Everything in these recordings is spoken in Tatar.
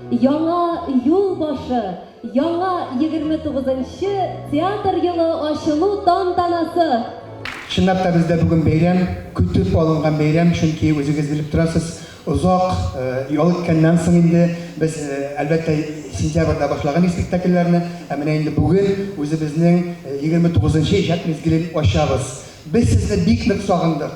Яңа юл башы, яңа 29 нчы театр елы ачылу тантанасы! Чынлап та бездә бүген бәйрәм, көтеп алынган бәйрәм, чөнки үзегез белеп торасыз, озак ял иткәннән соң инде без, әлбәттә, сентябрьдә башлаган идек спектакльләрне, ә менә инде бүген үзебезнең 29 нчы иҗат мизгелен ачабыз. Без сезне бик нык сагындык,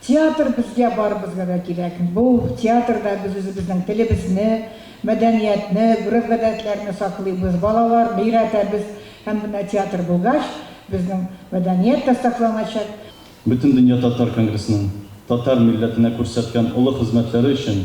Театр безгә барыбызга да кирәк. Бу театрда без үзебезнең телебезне, мәдәниятне, гореф-гадәтләрне саклыйбыз, балаларны өйрәтәбез һәм менә театр булгач, безнең мәдәният тә сакланачак. Бөтендөнья татар конгрессының татар милләтенә күрсәткән олы хезмәтләре өчен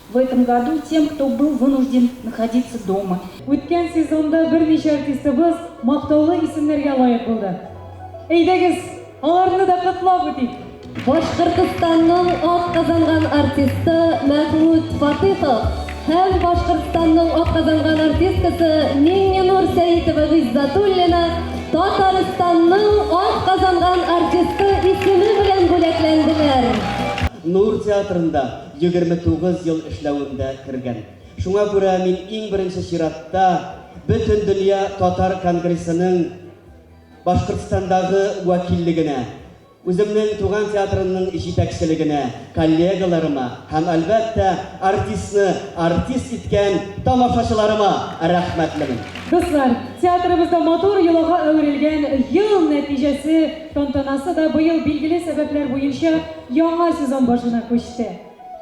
В этом году тем, кто был вынужден находиться дома. Үткән сезонда берничә артистыбыз мактаулы исемнәргә лаек булды. Әйдәгез, аларны да котлап үтик! Башкортостанның атказанган артисты Мәхмүт Фатыйхов һәм Башкортостанның атказанган артисткасы Миңненур Сәитова Гыйззатуллина Татарстанның атказанган артисты исеме белән бүләкләнделәр. Нур театрында Егерме тугыз ел эшләвемдә кергән. Шуңа күрә мин иң беренче чиратта Бөтендөнья татар конгрессының Башкортстандагы вәкиллегенә, үземнең туган театрымның җитәкчелегенә, коллегаларыма һәм, әлбәттә, артистны артист иткән тамашачыларыма рәхмәтлемен. Дуслар, театрыбызда матур йолага әверелгән Ел нәтиҗәсе тантанасы да быел билгеле сәбәпләр буенча, яңа сезон башына күчте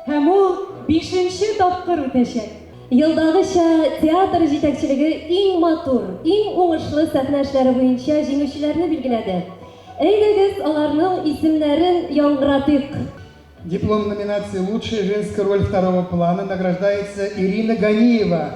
һәм ул бишенче тапкыр үтәчәк. Елдагыча, театр җитәкчелеге иң матур, иң уңышлы сәхнә эшләре буенча җиңүчеләрне билгеләде. Әйдәгез, аларның исемнәрен яңгыратыйк. Диплом номинации Лучшая женская роль второго плана награждается Ирина Ганиева,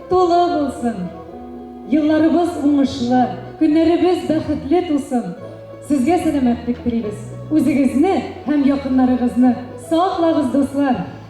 Тулы булсын! Елларыбыз уңышлы, көннәребез бәхетле тусын! Сезгә сәламәтлек телибез! Үзегезне һәм якыннарыгызны саклагыз, дуслар!